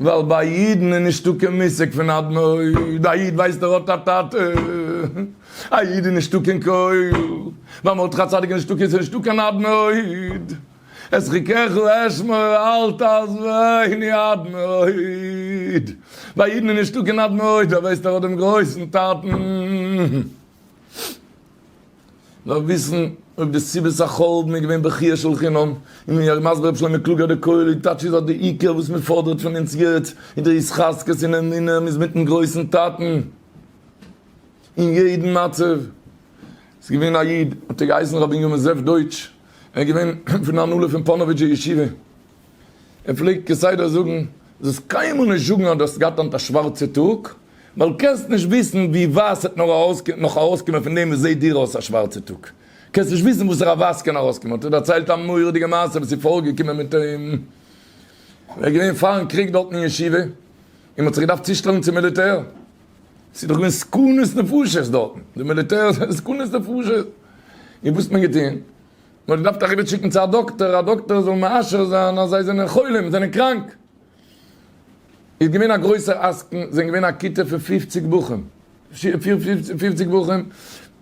ווייל ביי א אידן איז נישטא קיין מושג פון אדמור, א איד ווייסט ער האט א טאטע, א איד איז נישטא קיין קרוב, ביי מרדכי צדיק איז נישטא איז נישטא קיין אדמור, את חיקך לאשמור אל תעזבו עיני אדמור, ביי אידן איז נישטא קיין אדמור, ווייסט ער האט דעם גרויסן טאטן. נאר וויסן אויב די סיבת החורבן איז געווען בכיה של חינם, און ווי הרב מסביר ר' שלמה קלוגער די כולל איז טאטש איז אז די עיקר וואס מען פאדערט פון אונז יעצט איז די התחזקות און אמונה מען איז מיטן גרויסן טאטן אין יעדן מצב. ס'איז געווען א איד האט ער געהייסן ר' בנימין זאב דויטש, ער איז געווען פון די הנהלה פון פאנאוויטשער ישיבה, ער פלעגט כסדר זאגן, זאלסט קיינמאל נישט זאגן אז דו האסט געהאט היינט א שווארצע טאג, ווייל קענסט נישט וויסן ווי ווייס ס'עט נאך ארויסקומען פון דעם וואס זעט דיר אויס א שווארצע טאג, קענסט נישט וויסן וואסערע ווייס קען ארויסקומען, האט ער דערציילט א מורא'דיגע מעשה וואס איז פארגעקומען מיט אים, ער איז געווען פארן קריג דארט אין ישיבה, און מען האט זיך געדארפט צושטעלן צום מיליטער, ס'איז דאך געווען סכנת נפשות דארטן, די מיליטער איז סכנת נפשות, און וואס האט מען געטון? נאר געדארפט אריבער שיקן צו א דאקטער, א דאקטער זאל מאשר זיין אז זיי זענען חולים, זענען קראנק. איז געווען א גרויסער עסקן, זענען געווען א כיתה פון פֿופֿציק בחורים, פֿופֿציק בחורים,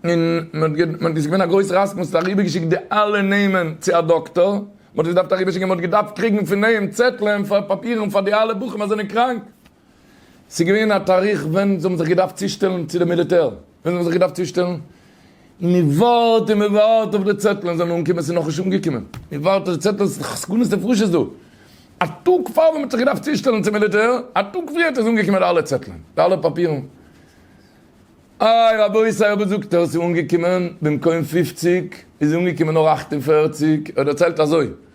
און מען האט, עס איז געווען א גרויסער עסקן, מען האט אריבער געשיקט די אלע נעמען צו א דאקטער, מען האט עס געדארפט אריבער שיקן, מען האט געדארפט קריגן פון אים צעטלען, פאפירן פאר די אלע בחורים אז זענען קראנק. ס'איז געווען א תאריך ווען זיי האבן זיך געדארפט צושטעלן צו די מיליטער, ווען זיי האבן זיך געדארפט צושטעלן, און מען ווארט און מען ווארט אויף די צעטלען זאלן אנקומען, ס'איז נאכנישט אנגעקומען, מען ווארט אויף די צעטלען, ס'איז נאך סכנת נפשות דא, א טאג פאר ווען מען האט זיך געדארפט צושטעלן צום מיליטער, א טאג פריער איז אנגעקומען די אלע צעטלען, די אלע פאפירן, איי רבותי אבער זאגט ער ס'איז אנגעקומען, במקום פופציג איז אנגעקומען נאר אכט און פערציג, ער דערציילט אזוי.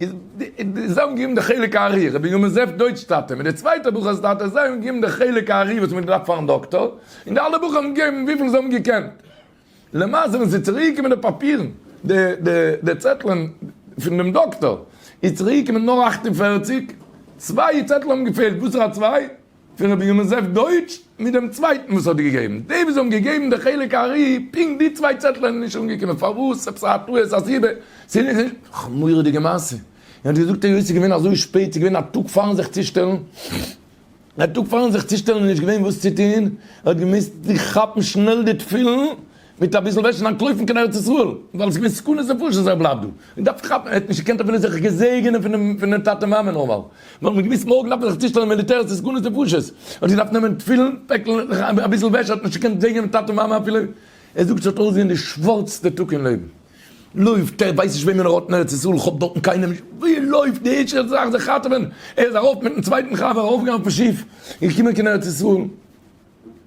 איז זיי האבן געגעבן די חלק הארי, רבי יומזעף דויטש טאטע מיט די צווייטע בחור'ס טאטע, זיי האבן געגעבן די חלק הארי וואס מען האט געדארפט פארן דאקטאר, און די אלע בחורים האבן געגעבן וויפיל זיי האבן געקענט. למעשה ווען ס'איז צוריק געקומען די פאפירן, די די די צעטלען פון דעם דאקטאר, איז צוריק געקומען נאר אַכט און פֿערציק, צוויי צעטלען האבן געפעלט, וואסערע צוויי? פון רבי ימזעף דויטש מיט דעם צווייטן וואס האט געגעבן, די וואס האבן געגעבן די חלק הארי פונקט די צוויי צעטלעך זענען נישט אנגעקומען פארוואס? עפעס א טעות א סיבה? ס'איז א מורא'דיגע מעשה, און האט געזאגט היות ס'איז געווען אזוי שפעט ס'איז געווען א טאג פארן זיך צושטעלן, א טאג פארן זיך צושטעלן איז נישט געווען וואס צו טון, האט געמוזט זיך כאפן שנעל די תפילין מיט אביסל וועש און אנטלויפן קיין ארץ ישראל, ווייל עס איז געווען סכנת נפשות אז ער בלייבט דא, און דארף כאפן, ער האט נישט געקענט אפילו זיך געזעגענען פונעם טאטע מאמע נארמאל, ווייל מען האט געוואוסט מארגן דארף מען זיך צושטעלן אין מיליטער עס איז סכנת נפשות, ער האט געדארפט נעמען תפילין פעקל און אביסל וועש, ער האט נישט געקענט זעגענען טאטע מאמע אפילו, ער זאגט ס'האט אויסגעזען די שווארצסטע טאג אין לעבן, לויפט ער ווייסט נישט וועמען ער האט אין ארץ ישראל, כאפט דארטן קיינעם נישט, ווי לויפט די ערשטע זאך זיך ראטעווען, ער איז ארויף מיטן צווייטן חבר ארויפגעגאנגען אויפן שיף און געקומען קיין ארץ ישראל.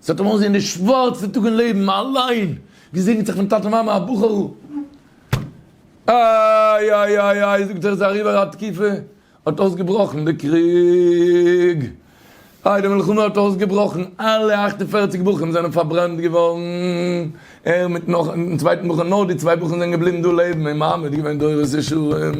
זי האָט אים אָנגעזען די שװאַרצע טאָג אין לעבן, אַלײן געזעגנט זיך פֿון טאַטע-מאַמע, אַ בחורל. אַי-אַי-אַי-אַי, זאָגט זיך, איז אַריבער אַ תּקופֿה, האָט אױסגעבראָכן דער קריג. אַי, די מלחמה האָט אױסגעבראָכן, אַלע אַכט און פֿערציק בחורים זענען פֿאַרברענט געװאָרן, ער מיט נאָך אַן צװײטן בחור, נאָר די צװײ בחורים זענען געבליבן דאָ לעבן, און מאַמע האָט געװען דורס-ישרים.